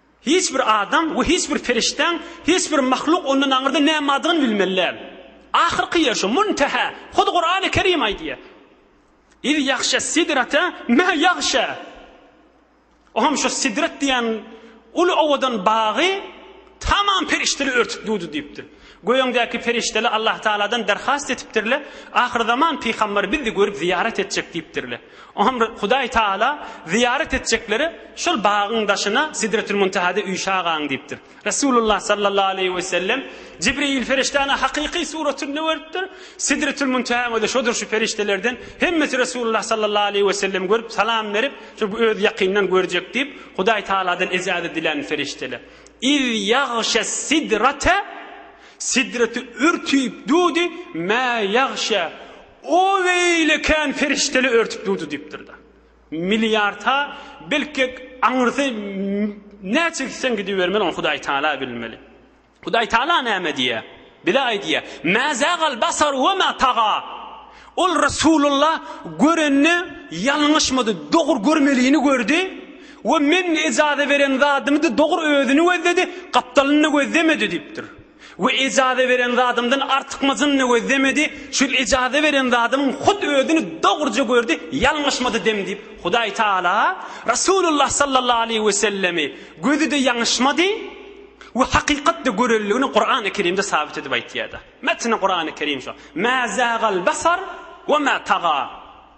Hiç bir adam we hiç bir perişdäň, hiç bir mahluk ondan aňyrda nämadygyny bilmeli däl. Ahyrky ýer şu, Munteha. Hut Kurany Kerim aýdýar. Iz ýagşa sidrata ma ýagşa. O hem şu sidrat diýen uly owadan bagy tamam perişdeler örtüp durdy diýipdir. Göýüňdäki perişdeler Allah Taaladan derhast etipdirler, ahyrzaman pygamberi bizi görüp zyýarat etjek diýipdirler. Oňa Hudaý Taala zyýarat etjeklere şol bagyň daşyna Sidretül-Muntahada üýşä galyň diýipdir. Resulullah sallallahu aleýhi we sellem Jibril perişdäni hakyky suratynda görüpdir. Sidretül-Muntahanyň özi şodur şu perişdelerden hemmesi Resulullah sallallahu aleýhi we sellemi görüp salam berip, şu özi ýakyndan görjek diýip, Hudaý Taaladan ejäze diländi perişdeler. Iz ýagşes-sidrate Sidreti örtüp dudy, mä ýagşe O beýle kän perişdeli örtüp durdy diýipdir-de. Milliarta belki aňyrsy näçe gitseň gidibermeli, ony Hudaý Taala bilmeli. Hudaý Taala näme diýýär? Bize aýdýar, Mä zagal basar we mä taga. Ol Resulullah görenini ýalňyşmady, dogry görmelini gördi we Men ejaza beren zadymy-da dogry özüni gözledi, gapdalyny-da gözlemedi diýipdir. We ejaza beren zadymdan artykmajyny gözlemedi, çünki ejaza beren zadymyň hut özüni dogruja gördi, ýalňyşmady dem diýip, Hudaý Tagala Resulullah sallallahu aleýhi wesellemi gözi-de ýalňyşmady we hakykatda görenligini Kurany Kerimde sabyt edip aýtýar-da. Metni Kurany Kerim şo. Mä zagal basar we mä taga.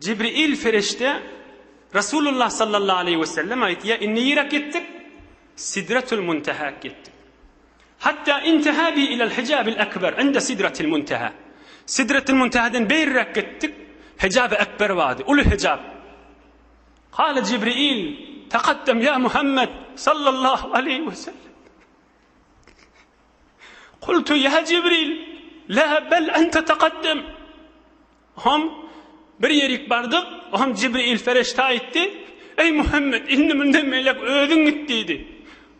Jibril perişde Resulullah sallallahu aleýhi we sellem aýtýar, Indi ýirak ýetdik, Sidretul Muntehä ýetdik. Hatda intaha bi ilal hijabil akbar inde Sidratil Munteha. Sidretil Muntehadan beýräk gitdik, Hijabi Akbar bardy, uly hijab. Kala Jibril, Taqaddam ýa Muhammed sallallahu aleýhi we sellem. Kultu ya Jibril, la bel ente taqaddem. Hom, bir ýerik bardyk, hom Jibril ferişde aýtdy, Eý, Muhammet, indi munda melek özüň git diýdi.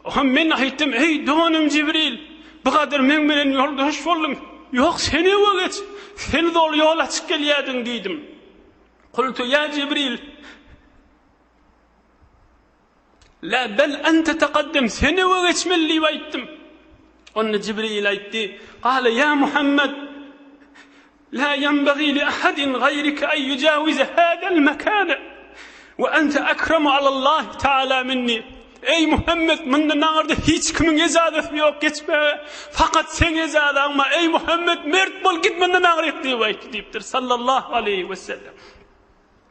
Hom men aýtdym, Eý, doganym Jibril, bu gadyr meň bilen ýoldaş bolduň, ýok, sen öňe geç, sen doly ýol açyp gelýärdiň diýdim. Kultu ýa Jibril! La bel ente taqaddem, sen öňe geçmeli diýip aýtdym. Onda Jibril aýtdy, Gale ýa Muhammed, La ýenbagi li ahadin gaýrike en ýujawize hadal mekane, we ente ekremu alallahi taala minni, Eý Muhammed, mundan aňyrda hiç kimiň ejazasy ýok geçmäge, fakat seň ejazaň bar, eý Muhammed, mert bol, git mundan aňryk diýip aýt diýipdir, sallallahu aleýhi wesellem.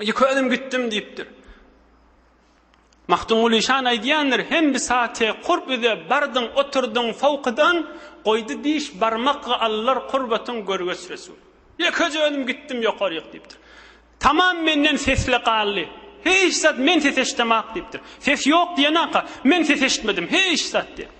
Iki özüm gitdim diýipdir. Magtymguly şan aýdýandyr, hem bir sate kurp üze bardyň, oturdyň sowkydan, goýdy diş barmak allar kurbatyň görgeç resul. Ýekeje özüm gitdim ýokaryk diýipdir. Tamam menden sesle galdy. Hiç zat men ses eşdemak diýipdir. Ses ýok diýenaka, men ses eşitmedim. Hiç zat diýip.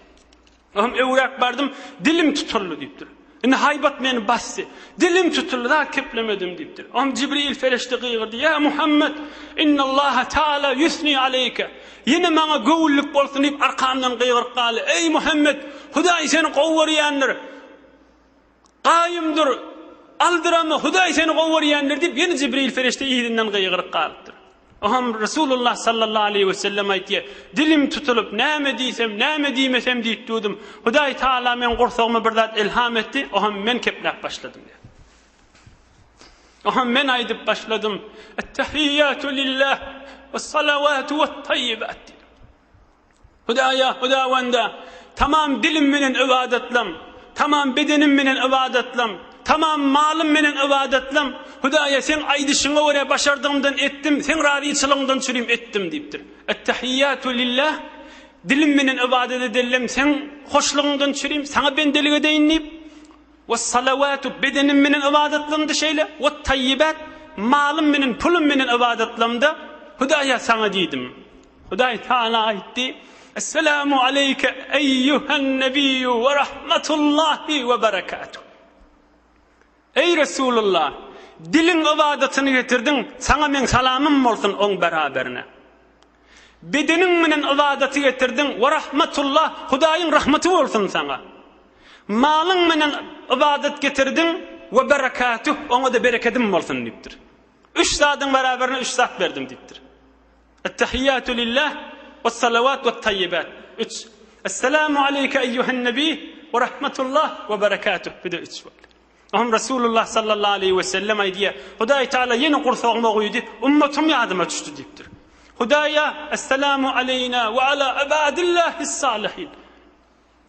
Özüm öwräp bardym, dilim tutuldy diýipdir. Indi haýbat meni basdy. Dilim tutuldy, zat keplemedim diýipdir. Özüm Jibril perişde gygyrdy, Ýa Muhammet, innallaha taala ýusni aleýke. Ýene maňa göwünlik bolsun diýip arkamdan gygyryp galdy, Eý Muhammet, Hudaý seni gowy görýändir. Gaýymdyr, aldyrama, Hudaý seni gowy görýändir diýip, ýene Jibril perişde yzyndan gygyryp galypdyr. Oňam Resulullah sallallahu aleýhi wesellem aýtýar, Dilim tutulyp, näme diýsem, näme diýmesem diýip durdum. Hudaý Tagala meň gursagyma bir zat ilham etdi, oňam men kepläp başladym diýýär. Oňam men aýdyp başladym, Ettehiýatu lillah, wessalawatu wet-taýyibat diýdim. Hudaýa, Hudawanda, tamam dilim menen ybadatlam, tamam bedenim menen ybadatlam, tamam malym menen ybadatlam, Hudaýa, Seň aýdyşyňa görä başardygymdan etdim, Seň razyçylygyňdan çürim etdim diýipdir. Ettehiýatu lillah, dilim menen ybadat edellem Seň hoşlugyňdan çürim, Saňa bendelik edeýin diýip, Wessalawatu, bedenim menen ybadatlamda şeýle, Wettaýibat, malym menen, pulum menen ybadatlamda, Hudaýa, Saňa diýdim. Hudaý Taala aýtdy, Esselamu aleýke eýýuhen nebiyyu we rahmetullahi we berekatuh. Eý Resulullah, diliň ybadatyny getirdiň, saňa meň salamym bolsun oň beraberine. Bedeniň menen ybadaty getirdiň, we rahmetullah, Hudaýyň rahmeti bolsun saňa. Malyň menen ybadat getirdiň, we berekatuh, oňa-da berekedim bolsun diýipdir. Üç zadyň beraberine üç zat berdim diýipdir. Ettehiýatu lillah wessalawat wettaýibat, üç. Esselamu aleýke eýýuhen nebiý we rahmetullah we berekatuh, bu-da üç boldy. Oňa Resulullah sallallahu aleýhi we sellem aýdýar, Hudaý Tagala ýene gursagyma guýdy, ummatym ýadyma düşdi diýipdir. Hudaýa, Esselamu aleýna we ala ibadillahis-salihin.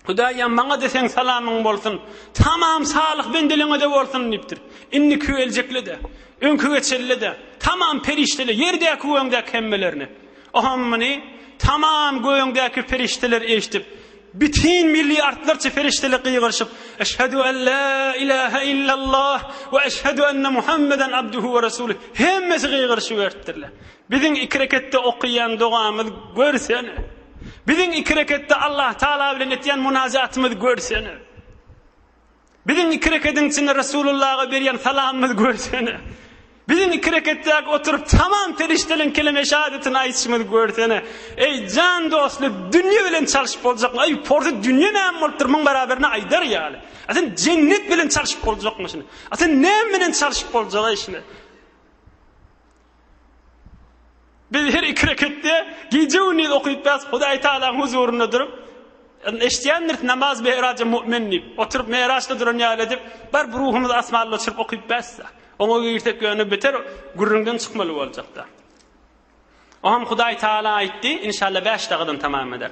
Hudaýam maňa-da seň salamyň bolsun, tamam salyh bendeleňe-de bolsun diýipdir. Indiki we eljekle-de, öňki geçelle-de, tamam perişdele, ýerdäki we öňdäki hemmelerine. Oňam muny tamam gögdäki perişdeler eşidip, bütin milliardlarça perişdele gygyryşyp, Eşhedü en la ilahe illallah we eşhedü enne Muhammeden abduhu we rasulü. Hemmesi gygyryşyp ertdirler. Biziň iki reketde okaýan dogamyz görsene. Biziň iki reketde Allahtagala bilen etýän munajatymyzy görsene. Biziň iki rekediň içinde Resulullaga berýän salamymyzy görsene. Biziň iki reketdäki oturyp tamam perişdeleň keleme-i şahadatini aýytşymyzy görsene. Eý, jan dostly, dünýe bilen çalşyp boljakmy? Eý, porsy dünýe näme bolupdyr, muň baraberini aýdar ýaly. A sen jennet bilen çalşyp boljakmy şuny? A sen näme bilen çalşyp boljak-eý şuny? Biz her iki reketde gije-gündiz okypdys, Hudaý Tagalaň huzurynda durup, eşidýändiris namaz meraja mu'min diýip, oturyp meraçda duran ýaly edip, barp ruhumyzy asmanda uçuryp okypdys-da. Oňa girsek ýöne beter gürrüňden çykmaly boljakda. Oňam Hudaý Tagala aýtdy, inşallah bäş dagadan tamam eder.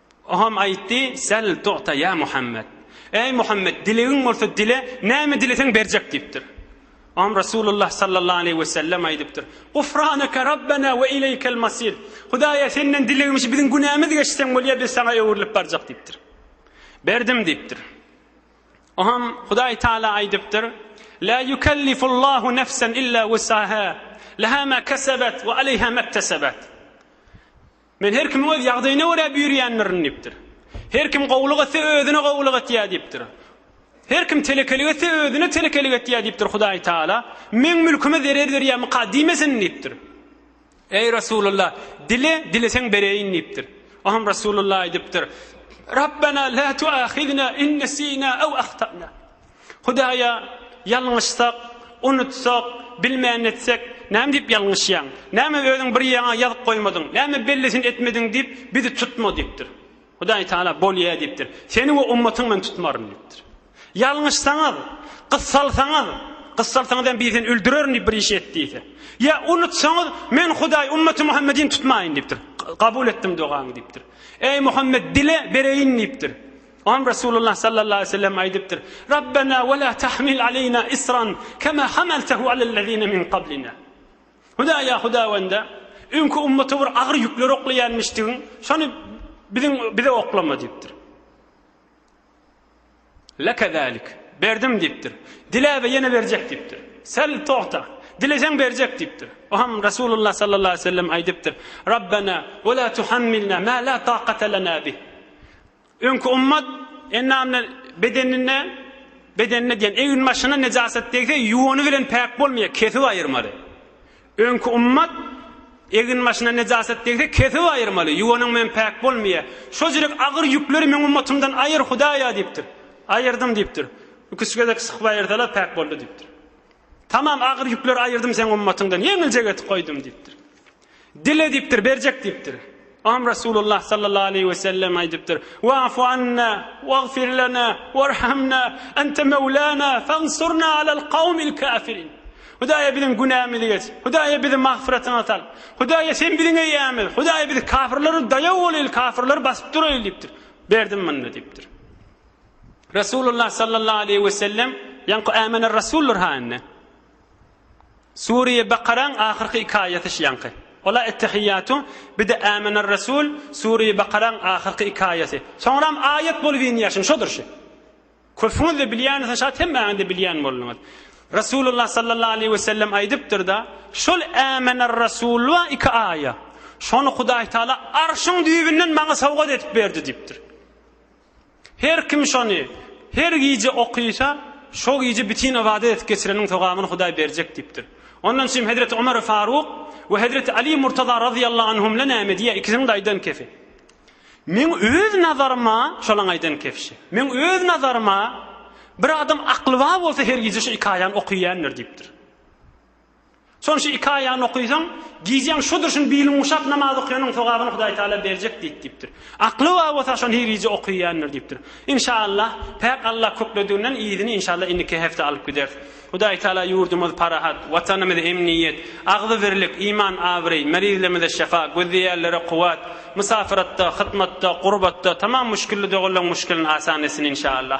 Oňam aýtdy, Sel tu'ta ýa Muhammet! Eý Muhammet, dilegiň bolsa dile, näme dileseň berjek diýipdir. Oňam Resulullah sallallahu aleýhi we sellem aýdypdyr, Gufraneke Rabbena we ileýkel masir! Hudaýa Senden dilegimiz biziň günämiz geçseň bolýar, biz Saňa öwrülip barjak diýipdir. Berdim diýipdir. Oňam Hudaý Taala aýdypdyr, La ýukellifullahu nefsen illa wusaha, leha ma kesebet we aleýha mektesebat. Men her kimiň öz ýagdaýyna görä büýrýändirin diýipdir. Her kim gowulyk etse, özüne gowulyk etýär diýipdir. Her kim telekelik etse, özüne telekelik etýär diýipdir Hudaý Taala. Meň mülküme zerer berýärmikä diýmesin diýipdir. Eý Resulullah, dile, dileseň bereýin diýipdir. Oňam Resulullah aýdypdyr, Rabbena la tuahizna in nesina ew ahtana. Hudaýa ýalňyşsak, unutsak, bilmän etsek, näme diýip ýalňyşýaň? Näme özüň bir ýeriňe ýazyp goýmadyň? Näme bellisini etmediň diýip, bizi tutma diýipdir. Hudaý Taala bolýa diýipdir. Seni we ummatyňy men tutmaryn diýipdir. Ýalňyşsaňyz, gyssalsaňyz, gyssalsaňyz hem bizi öldürerin diýip bir iş et diýse. Ýa unutsaňyz, men Hudaý ummaty Muhammedini tutmaýyn diýipdir. Kabul etdim dogaňy diýipdir. Eý Muhammed dile bereýin diýipdir. Oňa Resulullah sallallahu aleýhi we sellem aýdypdyr, Rabbena we la tahmil aleýna isran kema hamaltahu alellezine min qablina. Hudaýa Hudawanda, öňki ummata bir agyr ýükleri oklaýanmyşdygyň, şony biziň bize oklama diýipdir. Leke zalik. Berdim diýipdir. Dile we ýene berjek diýipdir. Sel togta. Dileseň berjek diýipdir. O hem Resulullah sallallahu aleýhi we sellem aýdypdyr. Rabbena we la tuhammilna ma la taqata lana bih. Öňki ümmet enamne bedenine, bedenine diýen egin-başyna nejaset degse, ýuwany bilen päk bolmaýar, kesip aýyrmaly. Öňki ümmet egin-başyna nejaset degse, kesip aýyrmaly, ýuwanyň bilen päk bolmaýar. Şo jürek agyr ýükleri meň ümmetymdan aýyr, Hudaýa diýipdir. Aýyrdym diýipdir. Ikisi gezek sykyp aýyrsalar päk boldy diýipdir. Tamam agyr ýükleri aýyrdym seň ümmetyňdan, ýeňiljek etip goýdum diýipdir. Dile diýipdir, berjek diýipdir. Am Resulullah sallallahu aleýhi we sellem aýdypdyr, Wa'fu anna, wagfir lana, warhamna, ente mewlana, fansurna alal kawmil kafirin. Hudaýa biziň günämizi geç. Hudaýa bizi magfyratyňa sal. Hudaýa sen biziň eýämiz. Hudaýa bizi kafirlere daýaw bolaýyl, kafirleri basyp duraýyl diýipdir. Berdim munda diýipdir. Resulullah sallallahu aleýhi we sellem ýaňky ämene rasullar haýynda. Sure-i Bakaraň ahyrky iki aýaty şu ýaňky. Ola Ettehiýatu, bir-de Âmenerresul, Sure-i Bakaraň ahyrky iki aýaty. Soňram aýat bolup inýär şuň, şodur şu. Köpüňiz-de bilýäňiz, şat hemmäňiz-de bilýän bolduňyz. Resulullah sallallahu aleýhi we sellem aýdypdyr-da, Şol Âmenerresul bar iki aýa, şony Hudaýtagala Arşyň düýbünden maňa sowgat edip berdi diýipdir. Her kim şony her gije okysa, şo gije bitin ybadat edip geçireniň sogabyn Hudaý berjek diýipdir. Ondan çyn hezreti Omar Faruk we hezreti Ali Murtaza razyýallahu anhumla näme diýýär, ikisiniň-de aýdan kefi. Meň öz nazaryma, şolaň aýdan kefşi. Meň öz nazaryma, bir adam aklybar bolsa her gije şu iki aýany okyýandyr diýipdir. Soň şu iki aýagyny okysaň, gijäň şu durşun bilin guşap namaz okýanyň sogabyny Hudaý Tagala berjek diýt diýipdir. Akly bar bolsa şony her gije okyýandyr diýipdir. Inşallah, Päk Alla köklediginden yzyny inşallah indiki hepde alyp gideris. Hudaý Tagala ýurdumyz parahat, Watanymyz emniýet, agzybirlik, iman abraý, merizlerimize şefa, gözleýänlere kuwwat, mysafyratda, hytmatda, gurbatda tamam müşgilli doganlaryň müşgilini asan etsin inşallah.